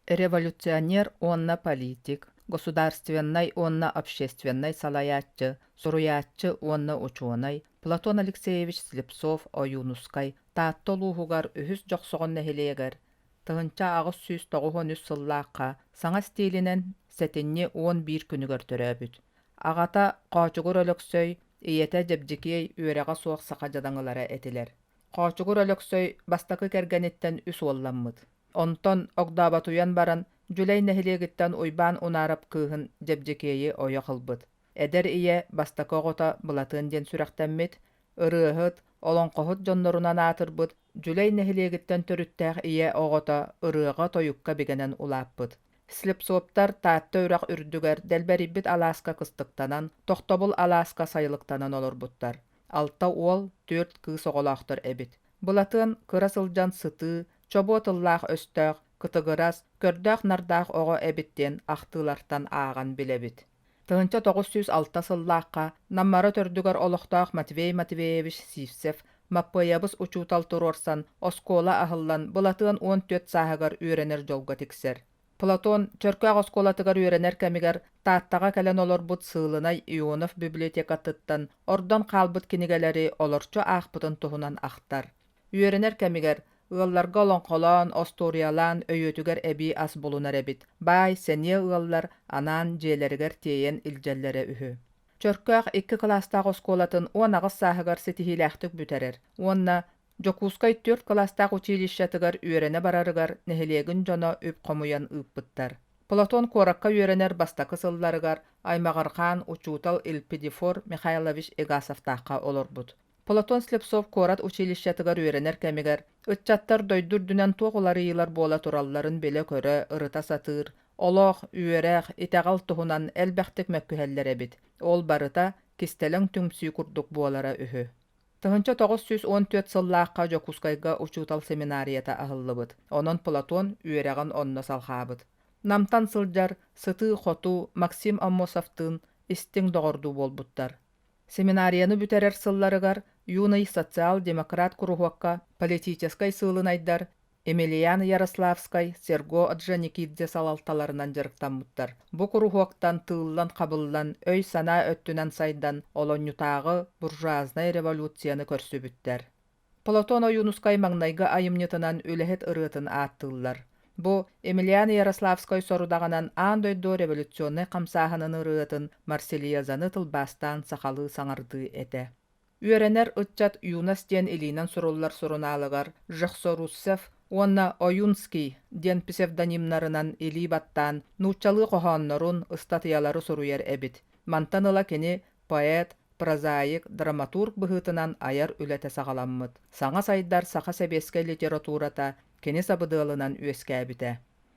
революционер уонна политик, государственнай уонна общественнай салайааччы, суруйааччы уонна учуонай Платон Алексеевич Слепцов Ойуунускай Таатта улууһугар үһүс Дьохсоҕон нэһилиэгэр тыһыынча аҕыс сүүс тоҕуһун үс сыллаахха саҥа стилинэн сэтинньи уон биир күнүгэр төрөөбүт. Аҕата Хоочугур Өлөксөй, ийэтэ Дьэбдьикиэй үөрэҕэ суох саха дьадаҥылара этилэр. Хоочугур Өлөксөй бастакы кэргэниттэн үс уолламмыт. Онтон огдооботуйан баран, Дьүлэй нэһилиэгиттэн Уйбаан Унаарап кыыһын Дьэбдьикиэйи ойох ылбыт. Эдэр ийэ бастакы оҕото Былатыан диэн сүрэхтэммит, ырыаһыт, олоҥхоһут дьоннорунан аатырбыт Дьүлэй нэһилиэгиттэн төрүттээх ийэ оҕото ырыаҕа-тойукка бигэнэн улааппыт. Слепцовтар Таатта үрэх үрдүгэр дэлбэрийбит алааска кыстыктанан, тохтобул алааска сайылыктанан олорбуттар. Алта уол, түөрт кыыс оҕолоохтор эбит. Былатыан кыра сылдьан сытыы, Чобуо тыллаах-өстөөх, кытыгырас, көрдөөх-нардаах оҕо эбит диэн ахтыылартан ааҕан билэбит. Тыһыынча тоҕус сүүс алта сыллаахха Наммара төрдүгэр олохтоох Матвей Матвеевич Сивцев Маппыайабыс учуутал туруорсан, оскуола аһыллан, былатыан уон түөрт сааһыгар үөрэнэр дьолго тиксэр. Платон Чөркөөх оскуолатыгар үөрэнэр кэмигэр Тааттаҕа кэлэн олорбут сыылынай Ионов библиотекатыттан ордон хаалбыт кинигэлэри олорчу аахпытын туһунан ахтар. Үөрэнэр кэмигэр ыалларга олоҥхолоон, остуоруйалаан өйүөтүгэр эбии ас булунар эбит. Баай, сэниэ ыаллар анаан дьиэлэригэр тиэйэн илдьэллэрэ үһү. Чөркөөх икки кылаастаах оскуолатын уон аҕыс сааһыгар ситиһиилээхтик бүтэрэр уонна Дьокуускай түөрт кылаастаах училищетыгар үөрэнэ барарыгар нэһилиэгин дьоно үп хомуйан ыыппыттар. Платон куоракка үөрэнэр бастакы сылларыгар аймаҕырҕаан учуутал Илпидифор Михайлович Игасовтаахха олорбут. Платон Слепцов куорат училищетыгар үөрэнэр кэмигэр ыччаттар дойду үрдүнэн туох уларыйыылар буола туралларын билэ-көрө, ырыта сатыыр, олох, үөрэх, итэҕэл туһунан элбэхтик мөккүһэллэр эбит. Ол барыта кистэлэҥ түмсүү курдук буолара үһү. Тыһыынча тоҕус сүүс уон түөрт сыллаахха Дьокуускайга учуутал семинарията аһыллыбыт, онон Платон үөрэҕин онно салҕаабыт. Намтан сылдьар, сытыы-хотуу Максим Аммосовтыын истиҥ доҕордуу буолбуттар. Семинарияны бүтэрэр сылларыгар Юный социал-демократ куруһуокка политическай сыылынайдар Емельян Ярославскай, Серго Орджоникидзе салалталарынан дьарыктаммыттар. Бу куруһуоктан тыыллан-хабыллан, өй-санаа өттүнэн сайдан, олонньутааҕы буржуазнай революцияны көрсүбүттэр. Платон Ойуунускай маҥнайгы айымньытынан үлэһит ырыатын ааттыыллар. Бу Емельян Ярославскай сорудаҕынан аан дойду революционнай хамсааһынын ырыатын Марсельезаны тылбаастаан сахалыы саҥардыы этэ. Үөрэнэр ыччат Юность диэн илиинэн суруллар сурунаалыгар Жехсорусцев уонна Ойунский диэн псевдонимнарынан илии баттаан нууччалыы хоһооннорун, ыстатыйалары суруйар эбит. Мантан ыла кини поэт, прозаик, драматург быһыытынан айар үлэтэ саҕаламмыт. Саҥа сайдар саха сэбиэскэй литературата кини сабыдыалынан үөскээбитэ.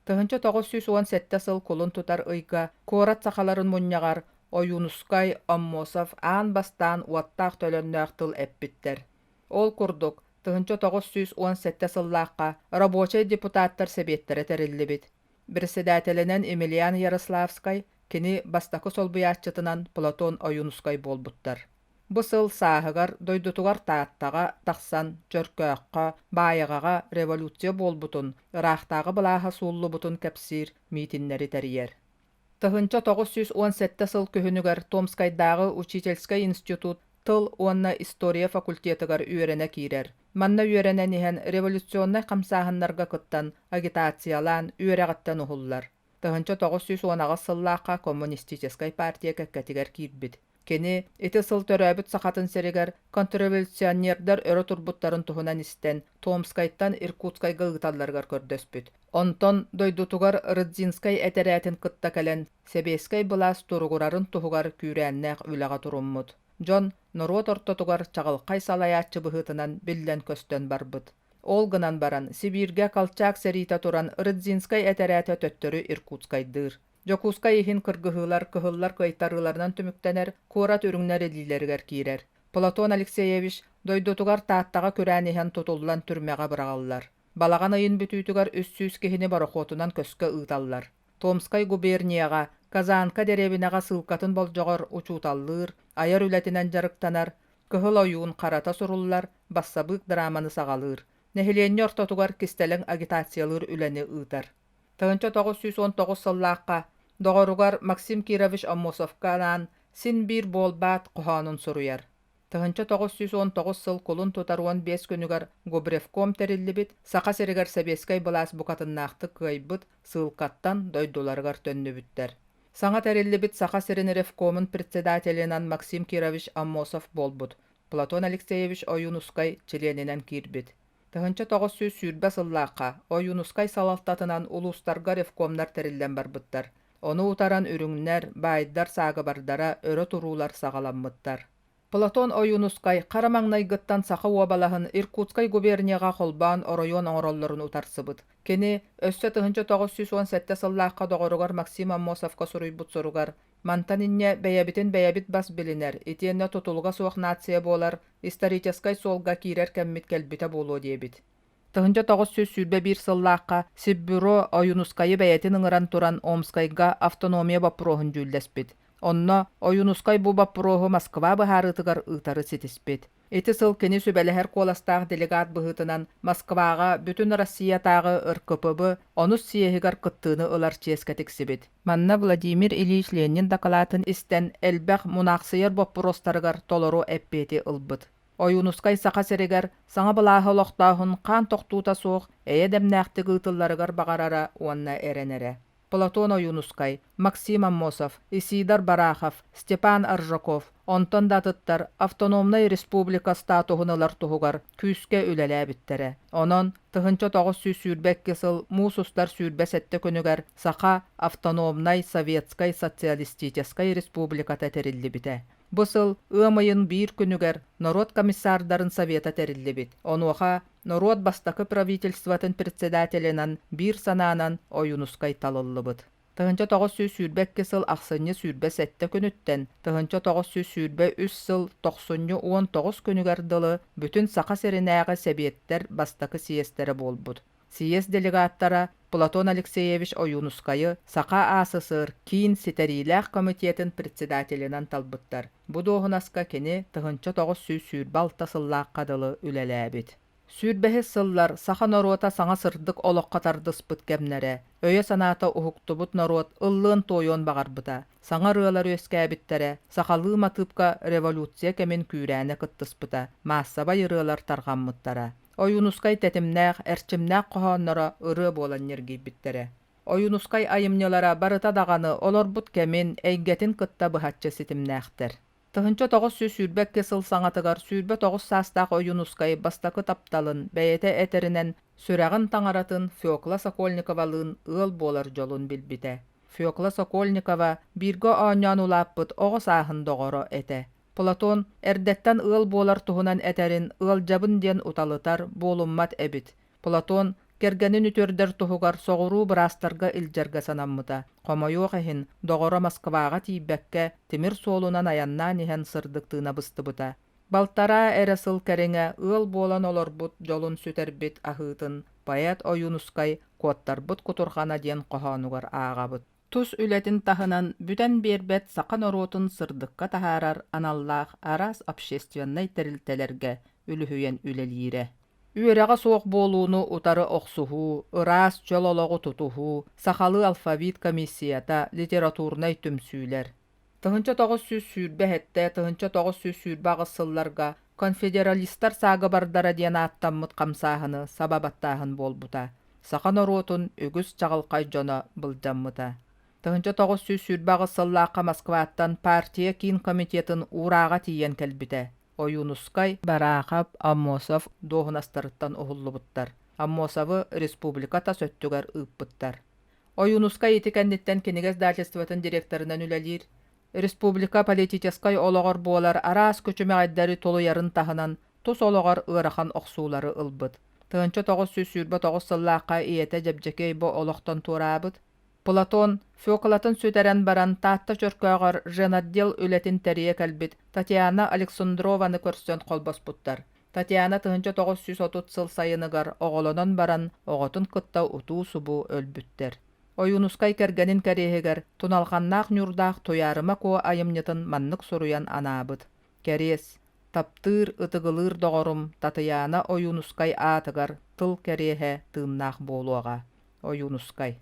Тыһынча тоҕус сүүс уон сэттэ сыл кулун тутар ыйга куорат сахаларын мунньаҕар Ойуунускай, Аммосов аан бастаан уоттаах-төлөннөөх тыл эппиттэр. Ол курдук, тыһынча тоҕус сүүс уон сэттэ сыллаахха рабочай депутаттар сэбиэттэрэ тэриллибит. Бэрэссэдээтэлинэн Емельян Ярославскай, кини бастакы солбуйааччытынан Платон Ойуунускай буолбуттар. Бу сыл сааһыгар дойдутугар Тааттаҕа тахсан Чөркөөххө, Баайаҕаҕа революция буолбутун, ыраахтааҕы былааһа сууллубутун кэпсиир миитиннэри тэрийэр. Тыһыынча тоҕус сүүс уон сэттэ сыл күһүнүгэр Томскайдааҕы учительскай институт тыл уонна история факультетыгар үөрэнэ киирэр. Манна үөрэнэн иһэн революционнай хамсааһыннарга кыттан, агитациялаан үөрэҕиттэн уһуллар. Тыһыынча тоҕус сүүс уон аҕыс сыллаахха коммунистическай партия кэккэтигэр киирбит. Кини ити сыл төрөөбүт Сахатын сиригэр контрреволюционердар өрө турбуттарын туһунан истэн, Томскайтан Иркутскайга ыыталларыгар көрдөспүт. Онтон дойдутугар Рыдзинскай этэрээтин кытта кэлэн, сэбиэскэй былаас туругурарын туһугар күүрээннээх үлэҕэ туруммут. Дьон норуот ортотугар чаҕылхай салайааччы быһыытынан биллэн-көстөн барбыт. Ол гынан баран, Сибииргэ Колчак сэриитэ туран Рыдзинскай этэрээтэ төттөрү Иркутскайдыыр. Дьокуускай иһин кыргыһыылар кыһыллар кыайтарыыларынан түмүктэнэр, куорат үрүҥнэр илиилэригэр киирэр. Платон Алексеевич дойдутугар Тааттаҕа күрээн иһэн тутуллан түрмэҕэ быраҕыллар. Балаҕан ыйын бүтүүтүгэр үс сүүс киһини борохуотунан көскө ыыталлар. Томскай губернияҕа, Казанка дэриэбинэҕэ сыылкатын болдьоҕор учууталлыыр, айар үлэтинэн дьарыктанар, Кыһыл ойуун харата суруллар, бассабыык драманы саҕалыыр. Нэһилиэнньэ ортотугар кистэлэҥ агитациялыыр үлэни ыытар. тыһыынча тоҕус сүүс уон тоҕус сыллаахха доҕоругар Максим Кирович Аммосовка анаан син-биир буолбаат хоһоонун суруйар. тыһыынча тоҕус сүүс уон тоҕус сыл кулун тутар уон биэс күнүгэр Губревком тэриллибит Саха сиригэр сэбиэскэй былаас букатыннаахтык кыайбыт сыылкаттан дойдуларыгар төннүбүттэр. Саҥа тэриллибит Саха сирин ревкомун председателинэн Максим Кирович Аммосов буолбут, Платон Алексеевич Ойуунускай чилиэнинэн киирбит. Тыһыынча тоҕус сүүс сүүрбэ сыллаахха Ойуунускай салалтатынан улуустарга ревкомнар тэриллэн барбыттар. Ону утаран үрүҥнэр, баайдар саагыбардара өрө туруулар саҕаламмыттар. Платон Ойуунускай хара маҥнайгыттан Саха уобалаһын Иркутскай губернияҕа холбоон оройуон оҥороллорун утарсыбыт. Кини өссө тыһыынча тоҕус сүүс уон сэттэ сыллаахха доҕоругар Максим Аммосовка суруйбут соругар Мантан инньэ бэйэбитин бэйэбит бас билинэр, итиэннэ тутулуга суох нация буолар, историческай суолга киирэр кэммит кэлбитэ буолуо диэбит. Тыһыынча тоҕус сүүс сүүрбэ биир сыллаахха Сиббюро Ойуунускайы бэйэтин ыҥыран туран Омскайга автономия боппуруоһун дьүүллэспит. Онно Ойуунускай бу боппуруоһу Москва быһаарыытыгар ыытары ситиспит. Ити сыл кини сүбэлэһэр куоластаах делегат быһыытынан Москваҕа Бүтүн Россиятааҕы РКПБ онус съеһигар кыттыыны ылар чиэскэ тиксибит. Манна Владимир Ильич Ленин дакылаатын истэн, элбэх мунаахсыйар боппуруостарыгар толору эппиэти ылбыт. Ойуунускай Саха сиригэр саҥа былааһы олохтооһун хаан тохтуута суох эйэ дэмнээхтик ыытылларыгар баҕарара уонна эрэнэрэ. Платон Ойуунускай, Максим Аммосов, Исидар Барахов, Степан Аржаков, онтон да атыттар автономнай республика статуһун ылар туһугар күүскэ үлэлээбиттэрэ. Онон тыһынча тоҕус сүүс сүүрбэ икки сыл муус устар сүүрбэ сэттэ күнүгэр Саха Автономнай Советскай Социалистическай Республиката тэриллибитэ. Бу сыл ыам ыйын биир күнүгэр норуот комиссардарын совета тэриллибит. Онуоха норуот бастакы правительствотын председателинэн биир санаанан Ойуунускай талыллыбыт. Тыһыынча тоҕус сүүс сүүрбэ икки сыл ахсынньы сүүрбэ сэттэ күнүттэн тыһыынча тоҕус сүүс сүүрбэ үс сыл тохсунньу уон тоҕус күнүгэр дылы бүтүн Саха сиринээҕи сэбиэттэр бастакы съезтэрэ буолбут. Сийиэс делегаттара Платон Алексеевич Ойуунускайы Саха АССР Киин Ситэриилээх комитетын председателинэн талбыттар. Бу дуоһунаска кини тыһыынча тоҕус сүүс сүүрбэ алта сыллаахха дылы үлэлээбит. Сүүрбэһис сыллар саха норуота саҥа сырдык олоххо тардыспыт кэмнэрэ, өйө-санаата уһуктубут норуот ыллыан-туойуон баҕарбыта, саҥа ырыалар үөскээбиттэрэ, сахалыы матыыпка революция кэмин күүрээнэ кыттыспыта, маассабай ырыалар тарҕаммыттара. Ойуунускай тэтимнээх, эрчимнээх хоһоонноро ырыа буолан ньиргийбиттэрэ. Ойуунускай айымньылара барыта даҕаны олорбут кэмин, эйгэтин кытта быһаччы ситимнээхтэр. Тыһыынча тоҕус сүүс сүүрбэ икки сыл саҥатыгар сүүрбэ тоҕус саастаах Ойуунускай бастакы тапталын, бэйэтэ этэринэн, сүрэҕин таҥаратын Фекла Сокольниковалыын ыал буолар дьолун билбитэ. Фекла Сокольникова бииргэ оонньоон улааппыт оҕо сааһын доҕоро этэ. Платон эрдэттэн ыал буолар туһунан этэрин ыалдьабын диэн уталытар буолуммат эбит. Платон кэргэнин үтүөрдэр туһугар соҕуруу быраастарга илдьэргэ санаммыта. Хомойуох иһин, доҕоро Москваҕа тиийбэккэ, тимир суолунан айаннаан иһэн сырдык тыына быстыбыта. Балтараа эрэ сыл кэриҥэ ыал буолан олорбут дьолун сүтэрбит аһыытын поэт Ойуунускай куоттарбыт кутурҕана диэн хоһоонугар ааҕабыт. тус үлэтин таһынан бүтэн биэрбэт саха норуотун сырдыкка таһаарар аналлаах араас общественнай тэрилтэлэргэ үлүһүйэн үлэлиирэ. Үөрэҕэ суох буолууну утары охсуһуу, ыраас чөл олоҕу тутуһуу, сахалыы алфавит комиссията, литературнай түмсүүлэр, тыһыынча тоҕус сүүс сүүрбэ эһэтте тыһыынча тоҕус сүүс сүүрбэ аҕыс сылларга конфедералистар саагыбардара диэн ааттаммыт хамсааһыны саба баттааһын буолбута саха норуотун үгүс чаҕылхай дьоно былдьаммыта тыһыынча тоҕус сүүс сүүрбэ аҕыс сыллаахха москваттан партия киин комитетын уурааҕа тиийэн кэлбитэ ойуунускай бараахап аммосов дуоһунастарыттан уһуллубуттар аммосовы республика тас өттүгэр ыыппыттар Ойуунускай ити кэнниттэн кинигэ издательствотын директорынан үлэлиир, республика политическай олоҕор буолар араас күчүмэҕэйдэри тулуйарын таһынан тус олоҕор ыарахан охсуулары ылбыт. Тыһынча тоҕус сүүс сүүрбэ тоҕус сыллаахха ийэтэ Дьэбдьэкиэй бу олохтон туораабыт. Платон Фёкалатын сүтэрэн баран Таатта Чөркөөҕөр женотдел үлэтин тэрийэ кэлбит Татьяна Александрованы көрсөн холбоспуттар. Татьяна тыһыынча тоҕус сүүс отут сыл сайыныгар оҕолонон баран оҕотун кытта утуу-субуу өлбүттэр. Ойуунускай кэргэнин кэриэһигэр Туналханнаах Ньурдаах Туйаарыма Куо айымньытын маннык суруйан анаабыт, Кэриэс, таптыыр, ытыгылыыр доҕорум Татыйаана Ойуунускай аатыгар тыл кэриэһэ тыыннаах буолуоҕа. Ойуунускай.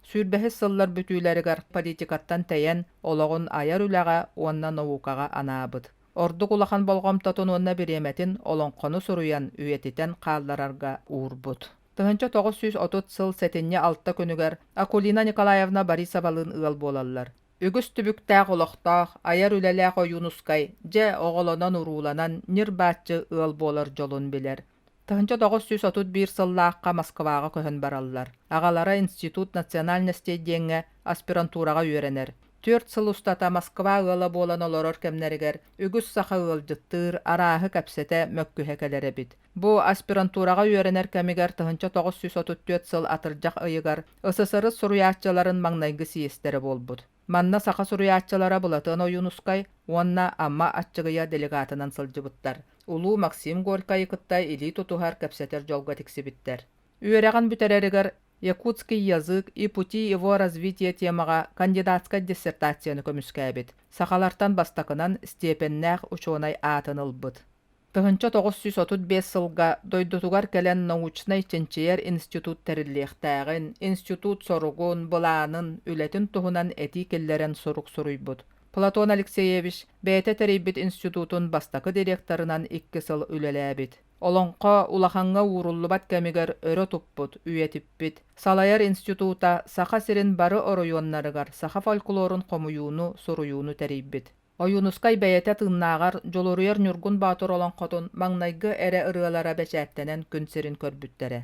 Сүүрбэһис сыллар бүтүүлэригэр политикаттан тэйэн, олоҕун айар үлэҕэ уонна наукаҕа анаабыт. Ордук улахан болҕомтотун уонна бириэмэтин олоҥхону суруйан, үйэтитэн хаалларарга уурбут. Тыһыынча тоҕус сүүс отут сыл сэтинньи алта күнүгэр Акулина Николаевна Борисовалыын ыал буолаллар. Үгүс түбүктээх олохтоох, айар үлэлээх Ойуунускай, дьэ, оҕолонон-урууланан ньир-бааччы ыал буолар дьолун билэр. Тыһынча тоҕус сүүс отут биир сыллаахха Москваҕа көһөн бараллар. Аҕалара Институт национальностей диэҥҥэ аспирантураҕа үөрэнэр. Түөрт сыл устата Москва ыала буолан олорор кэмнэригэр үгүс саха ыалдьыттыыр, арааһы кэпсэтэ, мөккүһэ кэлэр эбит. Бу аспирантураҕа үөрэнэр кэмигэр тыһынча тоҕус сүүс отут түөрт сыл атырдьах ыйыгар СССР суруйааччыларын маҥнайгы сийиэстэрэ буолбут. Манна саха суруйааччылара Былатыан Ойуунускай уонна Амма Аччыгыйа делегатынан сылдьыбыттар. Улуу Максим Горькайы кытта илии тутуһар, кэпсэтэр дьолго тиксибиттэр. Үөрэҕин бүтэрэригэр «Якутский язык и пути его развития» темаҕа кандидатскай диссертацияны көмүскээбит. Сахалартан бастакынан степеннээх учуонай аатын ылбыт. Тыһыынча тоҕус сүүс отут биэс сылга дойдутугар кэлэн научнай-чинчийэр институт тэриллиэхтээҕин, институт соругун, былаанын, үлэтин туһунан этии киллэрэн сурук суруйбут. Платон Алексеевич бэйэтэ тэрийбит институтун бастакы директорынан икки сыл үлэлээбит. Олоҥхо улахаҥҥа ууруллубат кэмигэр өрө туппут, үйэтиппит. Салайар института Саха сирин бары оройуоннарыгар саха фольклорун хомуйууну, суруйууну тэрийбит. Ойуунускай бэйэтэ тыыннааҕар Дьулуруйар Ньургун Боотур олоҥхотун маҥнайгы эрэ ырыалара бэчээттэнэн күн сирин көрбүттэрэ.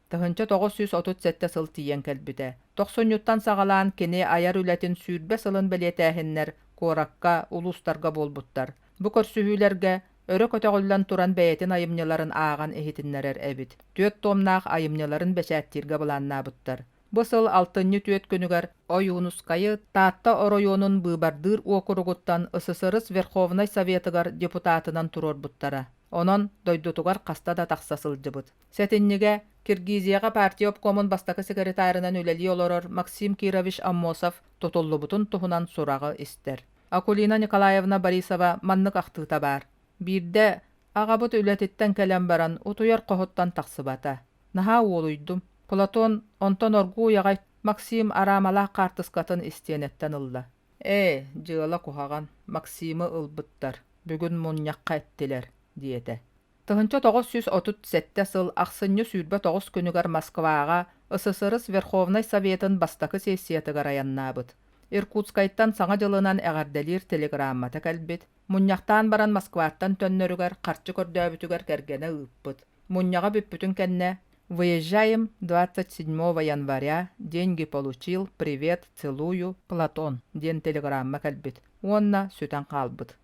Тыһыынча тоҕус сүүс отут сэттэ сыл тиийэн кэлбитэ. Тохсунньуттан саҕалаан кини айар үлэтин сүүрбэ сылын бэлиэтээһиннэр куоракка, улуустарга буолбуттар. Бу көрсүһүүлэргэ өрө көтөҕүллэн туран бэйэтин айымньыларын ааҕан иһитиннэрэр эбит. Түөрт туомнаах айымньыларын бэчээттииргэ былааннаабыттар. Бу сыл алтынньы түөрт күнүгэр Ойуунускайы Таатта оройуонун быыбардыыр уокуругуттан ССРС Верховнай Советыгар депутатынан туруорбуттара. Онон дойдутугар хаста да тахса сылдьыбыт. Сэтинньигэ Киргизияҕа партия обкомун бастакы секретарынан үлэлии олорор Максим Кирович Аммосов тутуллубутун туһунан сураҕы истэр. Акулина Николаевна Борисова маннык ахтыыта баар: Биирдэ аҕабыт үлэтиттэн кэлэн баран утуйар хоһуттан тахсыбата. Наһаа уолуйдум. Платон онтон оргууй аҕай Максим араамалаах хаартыскатын истиэнэттэн ылла. Ээ, дьыала куһаҕан, Максимы ылбыттар, бүгүн мунньахха эттилэр, диэтэ. Тыһынча тоҕус сүүс отут сэттэ сыл ахсынньы сүүрбэ тоҕус күнүгэр Москваҕа СССР Верховнай Советын бастакы сессиятыгар айаннаабыт. Иркутскайтан Саҥа дьылынан эҕэрдэлиир телеграммата кэлбит, Мунньахтаан баран Москваттан төннөрүгэр харчы көрдөөбүтүгэр кэргэнэ ыыппыт. Мунньаҕа бүппүтүн кэннэ «Выезжаем 27 января, деньги получил, привет, целую, Платон» диэн телеграмма кэлбит уонна сүтэн хаалбыт.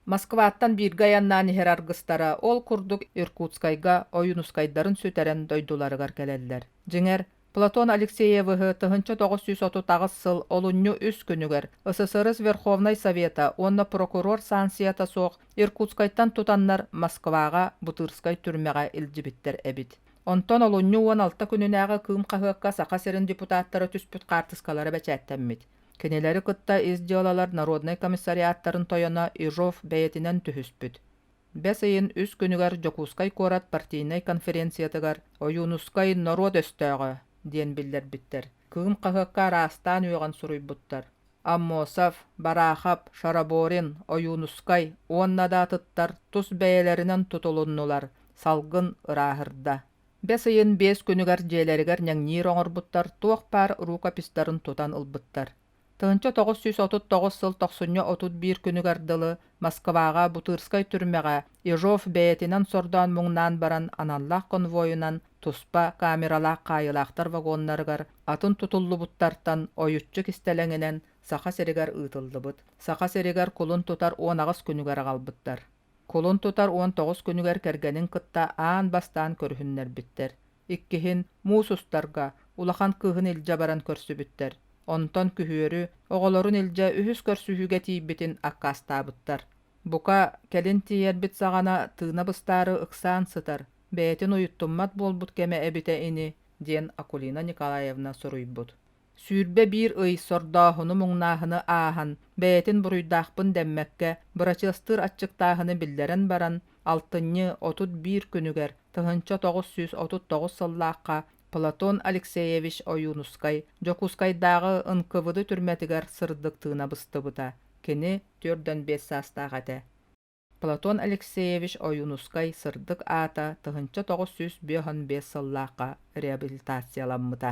Москваттан бииргэ айаннаан иһэр аргыстара ол курдук Иркутскайга Ойуунускайдарын сүтэрэн дойдуларыгар кэлэллэр. Дьиҥэр, Платон Алексеевыһы тыһынча тоҕус сүүс отут аҕыс сыл олунньу үс күнүгэр СССР Верховнай Совета уонна прокурор санкцията суох Иркутскайтан тутаннар Москваҕа Бутырскай түрмэҕэ илдьибиттэр эбит. Онтон олунньу уон алта күнүнээҕи Кыым хаһыакка Саха сирин депутаттара түспүт хаартыскалара бэчээттэммит. Кинилэри кытта ис дьыалалар народнай комиссариаттарын тойоно Ижов бэйэтинэн түһүспүт. Бэс ыйын үс күнүгэр Дьокуускай куорат партийнай конференциятыгар Ойуунускай норуот өстөөҕө диэн биллэрбиттэр Кыым хаһыакка араастаан үөҕэн суруйбуттар. Аммосов, Бараахап, Шараборин, Ойуунускай уонна да атыттар тус бэйэлэринэн тутулуннулар, салгын ырааһырда. Бэс ыйын биэс күнүгэр дьиэлэригэр ньэҥниир оҥорбуттар туох баар рукописьтарын тутан ылбыттар. тыһыынча тоҕус сүүс отут тоҕус сыл тохсунньу отут биир күнүгэр дылы Москваҕа Бутырскай түрмэҕэ Ежов бэйэтинэн сордоон муҥнаан баран аналлаах конвойунан туспа камералаах хаайылаахтар вагоннарыгар атын тутуллубуттартан ойуччу кистэлэҥинэн Саха сиригэр ыытыллыбыт. Саха сиригэр кулун тутар уон аҕыс күнүгэр аҕалбыттар. Кулун тутар уон тоҕус күнүгэр кэргэнин кытта аан бастаан көрүһүннэрбиттэр. Иккиһин муус устарга улахан кыыһын илдьэ баран көрсүбүттэр. Онтон күһүөрү оҕолорун илдьэ үһүс көрсүһүүгэ тиийбитин аккаастаабыттар. Бука, кэлин тиийэрбит саҕана тыына быстаары ыксаан сытар, бэйэтин уйуттуммат буолбут кэмэ эбитэ ини, диэн Акулина Николаевна суруйбут. Сүүрбэ биир ый сордооһуну муҥнааһыны ааһан, бэйэтин буруйдаахпын дэммэккэ, бырачыастыыр аччыктааһыны биллэрэн баран, алтынньы отут биир күнүгэр тыһыынча тоҕус сүүс отут тоҕус сыллаахха Платон Алексеевич Ойуунускай Дьокуускайдааҕы НКВД түрмэтигэр сырдык тыына быстыбыта. Кини түөрт уон биэс саастаах этэ. Платон Алексеевич Ойуунускай сырдык аата тыһыынча тоҕус сүүс биэһон биэс сыллаахха реабилитацияламмыта.